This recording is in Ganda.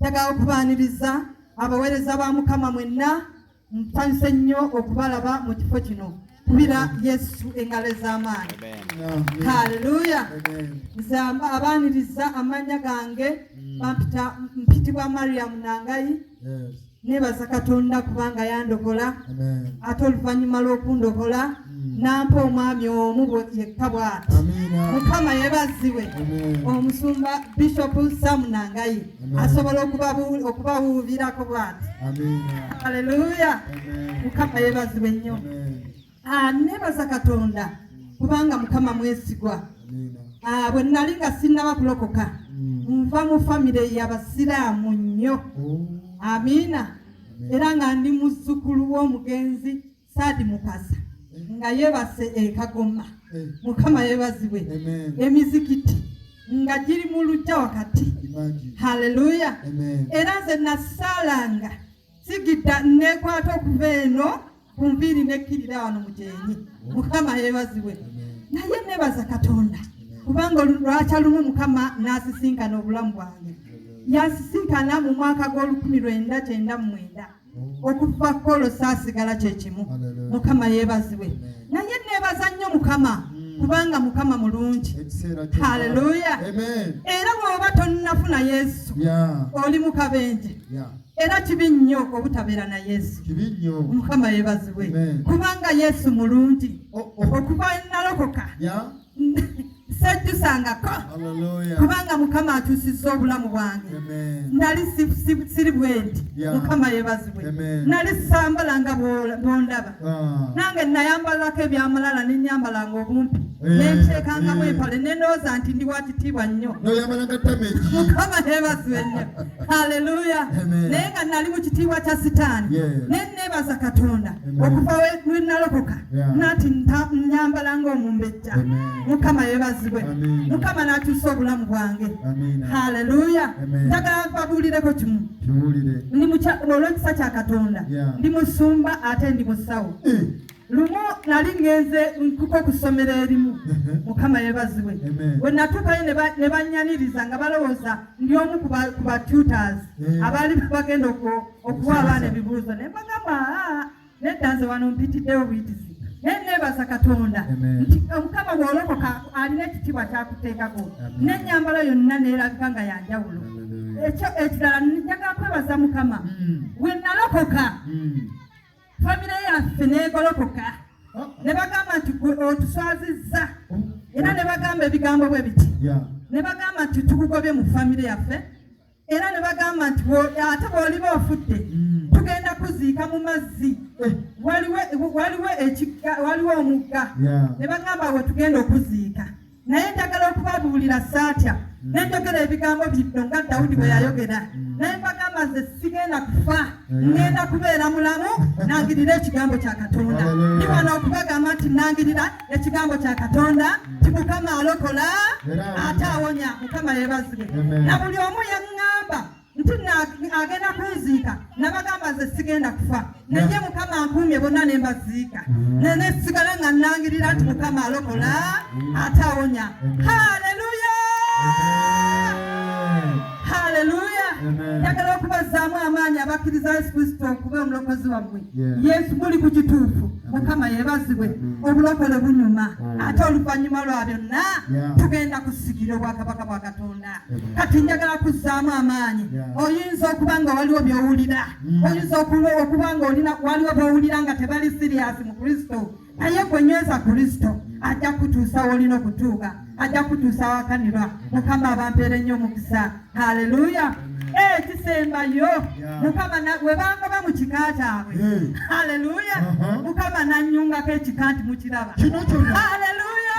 Njagala okubaaniriza abaweereza ba Mukama mwenna, nsanyuse nnyo okubalaba mu kifo kino kubira Yesu engalo ez'amaanyi. Haleluya! Nze abaaniriza amannya gange bampita mpitibwa Mariam Nangayi. nebaza katonda kubanga yandokola ate oluvanyuma lwokundokola hmm. nampa omwami omu yekka bwati mukama yebaziwe omusumba bishop samunangayi asobola okubawuubirako bwati aleluya mukama yebaziwe nnyo Ah, nebaza katonda kubanga mukama mwesigwa ah, bwe nali nga sinnaba kulokoka mm. nva mu famire yabasiraamu nnyo oh. amiina era nga ndi muzzukulu w'omugenzi saadi mukasa eh. nga yebase ekagoma eh. mukama yebazibwe emizikiti nga giri mu lujja wakati haleluya era nze nasaalanga sigidda nneekwata okuva eno ku nviiri nekkirira wano mu gyenyi mukama yeebazibwe naye neebaza katonda kubanga lwakya lumu mukama n'asisinkana obulamu bwange yasisinkana mu mwaka gw'olukumi lwenda kyenda mu mwenda okuva kolo saasigala kye kimu mukama yeebazibwe naye neebaza nnyo mukama kubanga mukama mulungi haleluya era bwoba tonnafuna yesu oli mukabenje Era kibi nnyo obutabeera na Yesu. Kibi nnyo. Mukama yeebazibwe. Kubanga Yesu mulungi. Oh, oh. Okuva nalokoka. Sejjusangako. Kubanga Mukama akyusizza obulamu bwange. Nali siri bwenti. Mukama yeebazibwe. Nali sambala nga bwondaba. ah. nange nayambalirako ebyamulala nenyambalanga obumpi eh, nenteekangamu eh. empale nendowooza nti ndi wakitiibwa nnyo mukama nebazibwe nnyo haleluya naye nga nali mu kitiibwa kya sitaani ne nebaza katonda okuva wenalokoka nati nyambalanga omumbejja mukama yebazibwe mukama nakyusa obulamu bwange haleluya njagala babuulireko kimu olw'ekisa kya katonda ndi musumba ate ndi musawo eh. lumu nali ngenze nkuko ku ssomero erimu uh-huh. mukama yebazibwe we natuukayo ne bannyaniriza nga balowooza ndi omu ku batutors eh. abaali bagenda okuwa abaana ebibuuzo ne bagamba nedda nze wano mpitiddewo buyitizi naye nebaza katonda nti omukama bwolokoka alina ekitibwa kyakuteekako nenyambala yonna neraga nga yanjawulo ekyo ekirala njaga kwebaza mukama hmm. wenalokoka hmm. famire yaffe negolokoka oh. nebagamba nti otuswazizza oh. era nebagamba ebigambo bwe biti nebagamba nti tukugobye mu famire yaffe era ne bagamba nti ate bw'oliba ofudde hmm. tugenda kuziika mu mazzi eh. waliwo omugga ne bagamba we tugenda okuziika naye njagala okubabuulira saatya hmm. ne njogera ebigambo bino nga dawudi bwe yayogera hmm. naye mbagamba nze sigenda kufa ngenda kubeera mulamu nangirira ekigambo kya katonda ndi wano okubagamba nti nangirira ekigambo kya katonda nti mukama alokola ate awonya mukama yebazibwe na buli omu yaŋŋamba nti agenda kunziika nabagamba nze sigenda kufa naye mukama ankuumye bonna ne mbaziika mm. naye nesigala nga nnangirira nti mukama alokola ate awonya haleluya haleluya njagala okubazaamu amaanyi abakkiriza yesu kristo okuba omulokozi wammwe yesu muli ku kituufu mukama yebazibwe hmm. obulokole bunyuma hmm. ate oluvanyuma lwa byonna tugenda kusigira obwakabaka bwa katonda kati njagala kuzzaamu amaanyi oyinza okuba nga waliwo byowulira hmm. oyinza okuba nga olina waliwo byowulira nga tebali siriyasi mu kristo naye gwenyweza kristo ajja kutuusa wolina okutuuka ajja kutuusa awakanirwa mukama abampeere nnyo omukisa haleluya ekisembayo eh, mukama webangoba mu kika kyabwe eh. haleluya uh-huh. mukama nanyungako ekika nti mukiraba haleluya